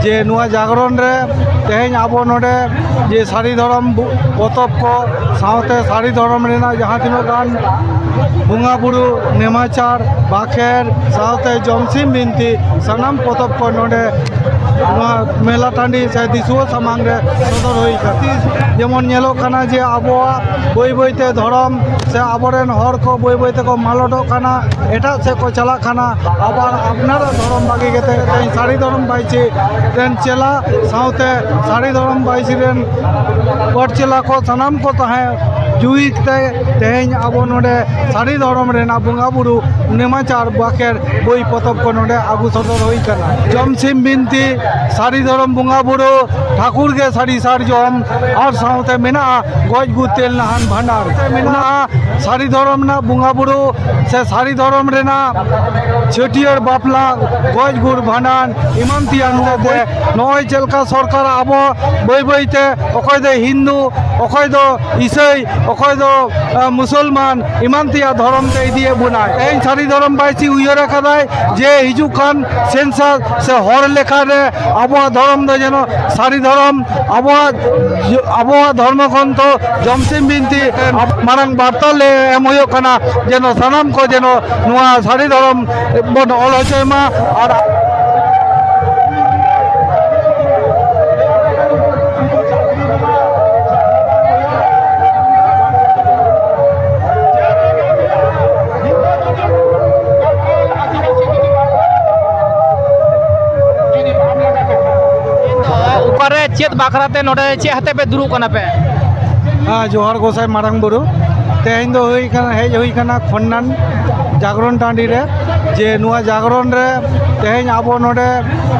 ᱡᱮ ᱱᱚᱣᱟ ᱡᱟᱜᱽᱨᱚᱱ ᱨᱮ ᱛᱮᱦᱮᱧ ᱟᱵᱚ ᱱᱚᱰᱮ ᱡᱮ ᱥᱟᱹᱨᱤ ᱫᱷᱚᱨᱚᱢ ᱯᱚᱛᱚᱵ ᱠᱚ ᱥᱟᱶᱛᱮ ᱥᱟᱹᱨᱤ ᱫᱷᱚᱨᱚᱢ ᱨᱮᱱᱟᱜ ᱡᱟᱦᱟᱸ ᱛᱤᱱᱟᱹᱜ ᱜᱟᱱ ᱵᱚᱸᱜᱟ ᱵᱩᱨᱩ ᱱᱮᱢᱟᱪᱟᱨ ᱵᱟᱠᱷᱮᱨ ᱥᱟᱶᱛᱮ ᱡᱚᱢᱥᱤᱢ ᱵᱤᱱᱛᱤ ᱥᱟᱱᱟᱢ ᱯᱚᱛᱚᱵ ᱠᱚ ᱱᱚᱰᱮ ᱱᱚᱣᱟ ᱢᱮᱞᱟ ᱴᱟᱺᱰᱤ ᱥᱮ ᱫᱤᱥᱩᱣᱟᱹ ᱥᱟᱢᱟᱝ ᱨᱮ ᱥᱚᱫᱚᱨ ᱦᱩᱭ ᱠᱟᱱᱟ ᱡᱮᱢᱚᱱ ᱧᱮᱞᱚᱜ ᱠᱟᱱᱟ ᱡᱮ ᱟᱵᱚᱣᱟᱜ ᱵᱟᱹᱭ ᱵᱟᱹᱭᱛᱮ ᱫᱷᱚᱨᱚᱢ ᱥᱮ ᱟᱵᱚᱨᱮᱱ ᱦᱚᱲ ᱠᱚ ᱵᱟᱹᱭ ᱵᱟᱹᱭ ᱛᱮᱠᱚ ᱢᱟᱞᱚᱴᱚᱜ ᱠᱟᱱᱟ ᱮᱴᱟᱜ ᱥᱮᱫ ᱠᱚ ᱪᱟᱞᱟᱜ ᱠᱟᱱᱟ ᱟᱵᱟᱨ ᱟᱯᱱᱟᱨᱟᱜ ᱫᱷᱚᱨᱚᱢ ᱵᱟᱹᱜᱤ ᱠᱟᱛᱮ ᱛᱮᱦᱮᱧ ᱥᱟᱹᱲᱤ ᱫᱷᱚᱨᱚᱢ ᱵᱟᱭᱥᱤ ᱨᱮᱱ ᱪᱮᱞᱟ ᱥᱟᱶᱛᱮ ᱥᱟᱹᱲᱤ ᱫᱷᱚᱨᱚᱢ ᱵᱟᱭᱥᱤ ᱨᱮᱱ ᱯᱟᱹᱴ ᱪᱮᱞᱟ ᱠᱚ ᱥᱟᱱᱟᱢ ᱠᱚ ᱛᱟᱦᱮᱸ ᱡᱩᱦᱤ ᱠᱟᱛᱮ ᱛᱮᱦᱮᱧ ᱟᱵᱚ ᱱᱚᱰᱮ ᱥᱟᱹᱲᱤ ᱫᱷᱚᱨᱚᱢ ᱨᱮᱱᱟᱜ ᱵᱚᱸᱜᱟ ᱵᱩᱨᱩ ᱱᱮᱢᱟᱪᱟᱨ ᱵᱟᱠᱷᱮᱲ ᱵᱳᱭ ᱯᱚᱛᱚᱵ ᱠᱚ ᱱᱚᱰᱮ ᱟᱹᱜᱩ ᱥᱚᱫᱚᱨ ᱦᱩᱭ ᱠᱟᱱᱟ ᱡᱚᱢ ᱥᱤᱢ ᱵᱤᱱᱛᱤ ᱥᱟᱹᱲᱤ ᱫᱷᱚᱨᱚᱢ ᱵᱚᱸᱜᱟ ᱵᱩᱨᱩ ᱴᱷᱟᱹᱠᱩᱨ ᱜᱮ ᱥᱟᱹᱲᱤ ᱥᱟᱨᱡᱚᱢ ᱟᱨ ᱥᱟᱶᱛᱮ ᱢᱮᱱᱟᱜᱼᱟ ᱜᱚᱡ ᱜᱩᱨ ᱛᱮᱞ ᱱᱟᱦᱟᱱ ᱵᱷᱟᱸᱰᱟᱱ ᱢᱮᱱᱟᱜᱼᱟ ᱥᱟᱹᱲᱤ ᱫᱷᱚᱨᱚᱢ ᱨᱮᱱᱟᱜ ᱵᱚᱸᱜᱟ ᱵᱩᱨᱩ ᱥᱮ ᱥᱟᱹᱲᱤ ᱫᱷᱚᱨᱚᱢ ᱨᱮᱱᱟᱜ ᱪᱷᱟᱹᱴᱭᱟᱹᱨ ᱵᱟᱯᱞᱟ ᱜᱚᱡ ᱜᱩᱨ ᱵᱷᱟᱸᱰᱟᱱ ᱮᱢᱟᱱ ᱛᱮᱭᱟᱜ ᱛᱮ ᱱᱚᱜᱼᱚᱭ ᱪᱮᱫ ᱞᱮᱠᱟ ᱥᱚᱨᱠᱟᱨ ᱟᱵᱚ ᱵᱟᱹᱭ ᱵᱟᱹᱭ ᱛᱮ ᱚᱠᱚᱭ ᱫᱚ ᱦᱤᱱᱫᱩ ᱚᱠᱚᱭ ᱫᱚ ᱤᱥᱟᱹᱭ ᱚᱠᱚᱭ ᱫᱚ ᱢᱩᱥᱚᱞᱢᱟᱱ ᱮᱢᱟᱱ ᱛᱮᱭᱟᱜ ᱫᱷᱚᱨᱚᱢ ᱛᱮ ᱤᱫᱤᱭᱮᱫ ᱵᱚᱱᱟ ᱛᱮᱦᱮᱧ ᱥᱟᱹᱨᱤ ᱫᱷᱚᱨᱚᱢ ᱵᱟᱭᱥᱤ ᱩᱭᱦᱟᱹᱨ ᱟᱠᱟᱫᱟᱭ ᱡᱮ ᱦᱤᱡᱩᱜ ᱠᱟᱱ ᱥᱮᱱᱥᱟᱥ ᱥᱮ ᱦᱚᱲ ᱞᱮᱠᱷᱟ ᱨᱮ ᱟᱵᱚᱣᱟᱜ ᱫᱷᱚᱨᱚᱢ ᱫᱚ ᱡᱮᱱᱚ ᱥᱟᱹᱨᱤ ᱫᱷᱚᱨᱚᱢ ᱟᱵᱚᱣᱟᱜ ᱟᱵᱚᱣᱟᱜ ᱫᱷᱚᱨᱢᱚ ᱜᱨᱚᱱᱛᱷᱚ ᱡᱚᱢᱥᱤᱢ ᱵᱤᱱᱛᱤ ᱢᱟᱨᱟᱝ ᱵᱟᱨᱛᱟ ᱞᱮ ᱮᱢ ᱦᱩᱭᱩᱜ ᱠᱟᱱᱟ ᱡᱮᱱᱚ ᱥᱟᱱᱟᱢ ᱠᱚ ᱡᱮᱱᱚ ᱱᱚᱣᱟ ᱥᱟᱹᱨᱤ ᱫᱷᱚᱨᱚᱢ ᱵᱚᱱ ᱚᱞ ᱦᱚᱪᱚᱭ ᱢᱟ ᱟᱨ ᱚᱠᱟᱨᱮ ᱪᱮᱫ ᱵᱟᱠᱷᱨᱟᱛᱮ ᱱᱚᱰᱮ ᱪᱮᱫ ᱦᱟᱛᱮ ᱯᱮ ᱫᱩᱲᱩᱵ ᱠᱟᱱᱟ ᱯᱮ ᱡᱚᱦᱟᱨ ᱜᱚᱥᱟᱭ ᱢᱟᱨᱟᱝ ᱵᱩᱨᱩ ᱛᱮᱦᱮᱧ ᱫᱚ ᱦᱩᱭ ᱠᱟᱱᱟ ᱦᱮᱡ ᱦᱩᱭ ᱠᱟᱱᱟ ᱠᱷᱚᱱᱱᱟᱱ ᱡᱟᱜᱽᱨᱚᱱ ᱴᱟᱺᱰᱤ ᱨᱮ ᱡᱮ ᱱᱚᱣᱟ ᱡᱟᱜᱽᱨᱚᱱ ᱨᱮ ᱛᱮᱦᱮᱧ ᱟᱵᱚ ᱱᱚᱰᱮ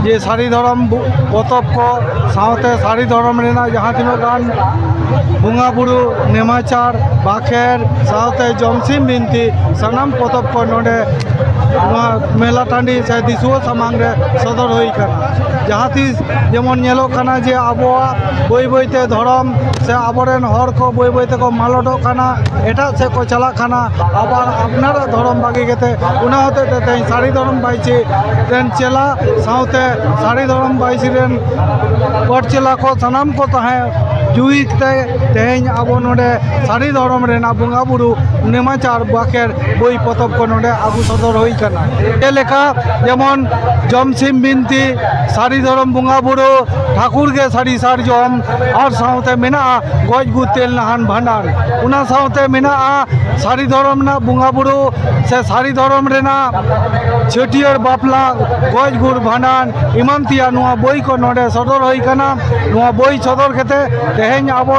ᱡᱮ ᱥᱟᱹᱨᱤ ᱫᱷᱚᱨᱚᱢ ᱯᱚᱛᱚᱵ ᱠᱚ ᱥᱟᱶᱛᱮ ᱥᱟᱹᱨᱤ ᱫᱷᱚᱨᱚᱢ ᱨᱮᱱᱟᱜ ᱡᱟᱦᱟᱸ ᱛᱤᱱᱟᱹᱜ ᱜᱟᱱ ᱵᱚᱸᱜᱟ ᱵᱩᱨᱩ ᱱᱮᱢᱟᱪᱟᱨ ᱵᱟᱠᱷᱮᱲ ᱥᱟᱶᱛᱮ ᱡᱚᱢᱥᱤᱢ ᱵᱤᱱᱛᱤ ᱥᱟᱱᱟᱢ ᱯᱚᱛᱚᱵ ᱠᱚ ᱱᱚᱰᱮ ᱱᱚᱣᱟ ᱢᱮᱞᱟ ᱴᱟᱺᱰᱤ ᱥᱮ ᱫᱤᱥᱩᱣᱟᱹ ᱥᱟᱢᱟᱝ ᱨᱮ ᱥᱚᱫᱚᱨ ᱦᱩᱭ ᱟᱠᱟᱱᱟ ᱡᱟᱦᱟᱸ ᱛᱤᱥ ᱡᱮᱢᱚᱱ ᱧᱮᱞᱚᱜ ᱠᱟᱱᱟ ᱡᱮ ᱟᱵᱚᱣᱟᱜ ᱵᱟᱹᱭ ᱵᱟᱹᱭ ᱛᱮ ᱫᱷᱚᱨᱚᱢ ᱥᱮ ᱟᱵᱚ ᱨᱮᱱ ᱦᱚᱲ ᱠᱚ ᱵᱟᱹᱭ ᱵᱟᱹᱭ ᱛᱮᱠᱚ ᱢᱟᱞᱚᱴᱚᱜ ᱠᱟᱱᱟ ᱮᱴᱟᱜ ᱥᱮᱫ ᱠᱚ ᱪᱟᱞᱟᱜ ᱠᱟᱱᱟ ᱟᱵᱟᱨ ᱟᱯᱱᱟᱨᱟᱜ ᱫᱷᱚᱨᱚᱢ ᱵᱟᱹᱜᱤ ᱠᱟᱛᱮ ᱚᱱᱟ ᱦᱚᱛᱮᱡ ᱛᱮ ᱛᱮᱦᱮᱧ ᱥᱟᱹᱨᱤ ᱫᱷᱚᱨᱚᱢ ᱵᱟᱭᱥᱤ ᱨᱮᱱ ᱪᱮᱞᱟ ᱥᱟᱶᱛᱮ ᱥᱟᱹᱨᱤ ᱫᱷᱚᱨᱚᱢ ᱵᱟᱭᱥᱤ ᱨᱮᱱ ᱯᱟᱹᱴ ᱪᱮᱞᱟ ᱠᱚ ᱥᱟᱱᱟᱢ ᱠᱚ ᱛᱟᱦᱮᱸ ᱡᱩᱦᱤ ᱛᱮ ᱛᱮᱦᱮᱧ ᱟᱵᱚ ᱱᱚᱰᱮ ᱥᱟᱹᱨᱤ ᱫᱷᱚᱨᱚᱢ ᱨᱮᱱᱟᱜ ᱵᱚᱸᱜᱟᱼᱵᱩᱨᱩ ᱱᱮᱢᱟᱪᱟᱨ ᱵᱟᱠᱮᱨ ᱵᱳᱭ ᱯᱚᱛᱚᱵ ᱠᱚ ᱱᱚᱰᱮ ᱟᱹᱜᱩ ᱥᱚᱫᱚᱨ ᱦᱩᱭ ᱠᱟᱱᱟ ᱡᱮᱞᱮᱠᱟ ᱡᱮᱢᱚᱱ ᱡᱚᱢ ᱥᱤᱢ ᱵᱤᱱᱛᱤ ᱥᱟᱹᱨᱤ ᱫᱷᱚᱨᱚᱢ ᱵᱚᱸᱜᱟ ᱵᱩᱨᱩ ᱴᱷᱟᱠᱩᱨ ᱜᱮ ᱥᱟᱹᱨᱤ ᱥᱟᱨᱡᱚᱢ ᱟᱨ ᱥᱟᱶᱛᱮ ᱢᱮᱱᱟᱜᱼᱟ ᱜᱚᱡ ᱜᱩᱨ ᱛᱮᱞ ᱱᱟᱦᱟᱱ ᱵᱷᱟᱸᱰᱟᱱ ᱚᱱᱟ ᱥᱟᱶᱛᱮ ᱢᱮᱱᱟᱜᱼᱟ ᱥᱟᱹᱨᱤ ᱫᱷᱚᱨᱚᱢ ᱨᱮᱱᱟᱜ ᱵᱚᱸᱜᱟ ᱵᱩᱨᱩ ᱥᱮ ᱥᱟᱹᱨᱤ ᱫᱷᱚᱨᱚᱢ ᱨᱮᱱᱟᱜ ᱪᱷᱟᱹᱴᱭᱟᱹᱨ ᱵᱟᱯᱞᱟ ᱜᱚᱡ ᱜᱩᱨ ᱵᱷᱟᱸᱰᱟᱱ ᱮᱢᱟᱱ ᱛᱮᱭᱟᱜ ᱱᱚᱣᱟ ᱵᱳᱭ ᱠᱚ ᱱᱚᱰᱮ ᱥᱚᱫᱚᱨ ᱦᱩᱭ ᱠᱟᱱᱟ ᱱᱚᱣᱟ ᱵᱳᱭ ᱥᱚᱫᱚᱨ ᱠᱟᱛᱮ ᱛᱮᱦᱮᱧ ᱟᱵᱚ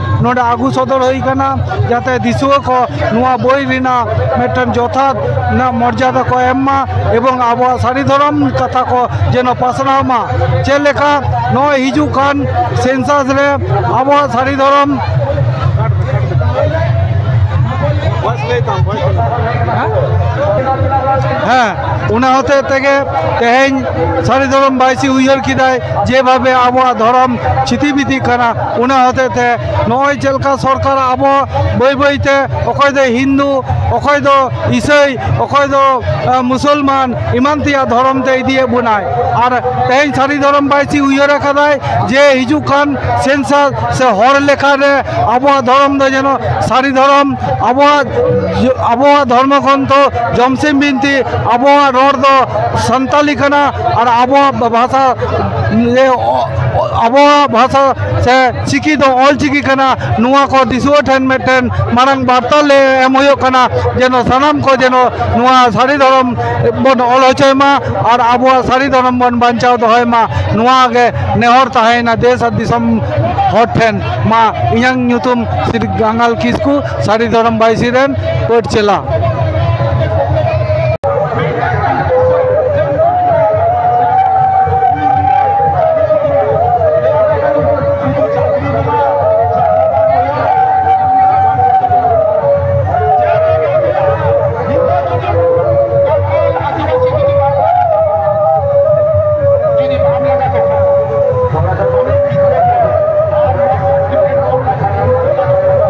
ᱱᱚᱰᱮ ᱟᱹᱜᱩ ᱥᱚᱫᱚᱨ ᱦᱩᱭ ᱟᱠᱟᱱᱟ ᱡᱟᱛᱮ ᱫᱤᱥᱩᱣᱟᱹ ᱠᱚ ᱱᱚᱣᱟ ᱵᱳᱭ ᱨᱮᱱᱟᱜ ᱢᱤᱫᱴᱮᱱ ᱡᱚᱛᱷᱟᱛ ᱨᱮᱱᱟᱜ ᱢᱚᱨᱡᱟᱫᱟ ᱠᱚ ᱮᱢ ᱢᱟ ᱮᱵᱚᱝ ᱟᱵᱚᱣᱟᱜ ᱥᱟᱹᱨᱤ ᱫᱷᱚᱨᱚᱢ ᱠᱟᱛᱷᱟ ᱠᱚ ᱡᱮᱱᱚ ᱯᱟᱥᱱᱟᱣ ᱢᱟ ᱪᱮᱫ ᱞᱮᱠᱟ ᱱᱚᱜᱼᱚᱭ ᱦᱤᱡᱩᱜ ᱠᱟᱱ ᱥᱮᱱᱥᱟᱥ ᱨᱮ ᱟᱵᱚᱣᱟᱜ ᱥᱟᱹᱨᱤ ᱫᱷᱚᱨᱚᱢ ᱦᱮᱸ ᱚᱱᱟ ᱦᱚᱛᱮ ᱛᱮᱜᱮ ᱛᱮᱦᱮᱧ ᱥᱟᱹᱨᱤ ᱫᱷᱚᱨᱚᱢ ᱵᱟᱭᱥᱤ ᱩᱭᱦᱟᱹᱨ ᱠᱮᱫᱟᱭ ᱡᱮᱵᱷᱟᱵᱮ ᱟᱵᱚᱣᱟᱜ ᱫᱷᱚᱨᱚᱢ ᱪᱷᱤᱛᱤ ᱵᱤᱛᱤᱜ ᱠᱟᱱᱟ ᱚᱱᱟ ᱦᱚᱛᱮᱡ ᱛᱮ ᱱᱚᱜᱼᱚᱭ ᱪᱮᱫ ᱞᱮᱠᱟ ᱥᱚᱨᱠᱟᱨ ᱟᱵᱚ ᱵᱟᱹᱭ ᱵᱟᱹᱭ ᱛᱮ ᱚᱠᱚᱭ ᱫᱚ ᱦᱤᱱᱫᱩ ᱚᱠᱚᱭ ᱫᱚ ᱤᱥᱟᱹᱭ ᱚᱠᱚᱭ ᱫᱚ ᱢᱩᱥᱚᱞᱢᱟᱱ ᱮᱢᱟᱱ ᱛᱮᱭᱟᱜ ᱫᱷᱚᱨᱚᱢ ᱛᱮ ᱤᱫᱤᱭᱮᱫ ᱵᱚᱱᱟᱭ ᱟᱨ ᱛᱮᱦᱮᱧ ᱥᱟᱹᱨᱤ ᱫᱷᱚᱨᱚᱢ ᱵᱟᱭᱥᱤ ᱩᱭᱦᱟᱹᱨ ᱟᱠᱟᱫᱟᱭ ᱡᱮ ᱦᱤᱡᱩᱜ ᱠᱟᱱ ᱥᱮᱱᱥᱟᱥ ᱥᱮ ᱦᱚᱲ ᱞᱮᱠᱷᱟ ᱨᱮ ᱟᱵᱚᱣᱟᱜ ᱫᱷᱚᱨᱚᱢ ᱫᱚ ᱡᱮᱱᱚ ᱥᱟᱹᱨᱤ ᱫᱷᱚᱨᱚᱢ ᱟᱵᱚᱣᱟᱜ ᱟᱵᱚᱣᱟᱜ ᱫᱷᱚᱨᱢᱚ ᱜᱨᱚᱱᱛᱷ ᱡᱚᱢᱥᱤᱢ ᱵᱤᱱᱛᱤ ᱟᱵᱚᱣᱟᱜ ᱨᱚᱲ ᱫᱚ ᱥᱟᱱᱛᱟᱞᱤ ᱠᱟᱱᱟ ᱟᱨ ᱟᱵᱚᱣᱟᱜ ᱵᱷᱟᱥᱟ ᱟᱵᱚᱣᱟᱜ ᱵᱷᱟᱥᱟ ᱥᱮ ᱪᱤᱠᱤ ᱫᱚ ᱚᱞ ᱪᱤᱠᱤ ᱠᱟᱱᱟ ᱱᱚᱣᱟ ᱠᱚ ᱫᱤᱥᱩᱣᱟᱹ ᱴᱷᱮᱱ ᱢᱤᱫᱴᱮᱱ ᱢᱟᱨᱟᱝ ᱵᱟᱨᱛᱟ ᱞᱮ ᱮᱢ ᱦᱩᱭᱩᱜ ᱠᱟᱱᱟ ᱡᱮᱱᱚ ᱥᱟᱱᱟᱢ ᱠᱚ ᱡᱮᱱᱚ ᱱᱚᱣᱟ ᱥᱟᱹᱨᱤ ᱫᱷᱚᱨᱚᱢ ᱵᱚᱱ ᱚᱞ ᱦᱚᱪᱚᱭ ᱢᱟ ᱟᱨ ᱟᱵᱚᱣᱟᱜ ᱥᱟᱹᱨᱤ ᱫᱷᱚᱨᱚᱢ ᱵᱚᱱ ᱵᱟᱧᱪᱟᱣ ᱫᱚᱦᱚᱭ ᱢᱟ ᱱᱚᱣᱟ ᱜᱮ ᱱᱮᱦᱚᱨ ᱛᱟᱦᱮᱸᱭᱮᱱᱟ ᱫᱮᱥ ᱟᱨ ᱫᱤᱥᱚᱢ ᱦᱚᱲ ᱴᱷᱮᱱ ᱢᱟ ᱤᱧᱟᱹᱝ ᱧᱩᱛᱩᱢ ᱥᱨᱤ ᱜᱟᱝᱜᱟᱞ ᱠᱤᱥᱠᱩ ᱥᱟᱹᱨᱤ ᱫᱷᱚᱨᱚᱢ ᱵᱟᱭᱥᱤ ᱨᱮᱱ ᱯᱟᱹᱴ ᱪᱮᱞᱟ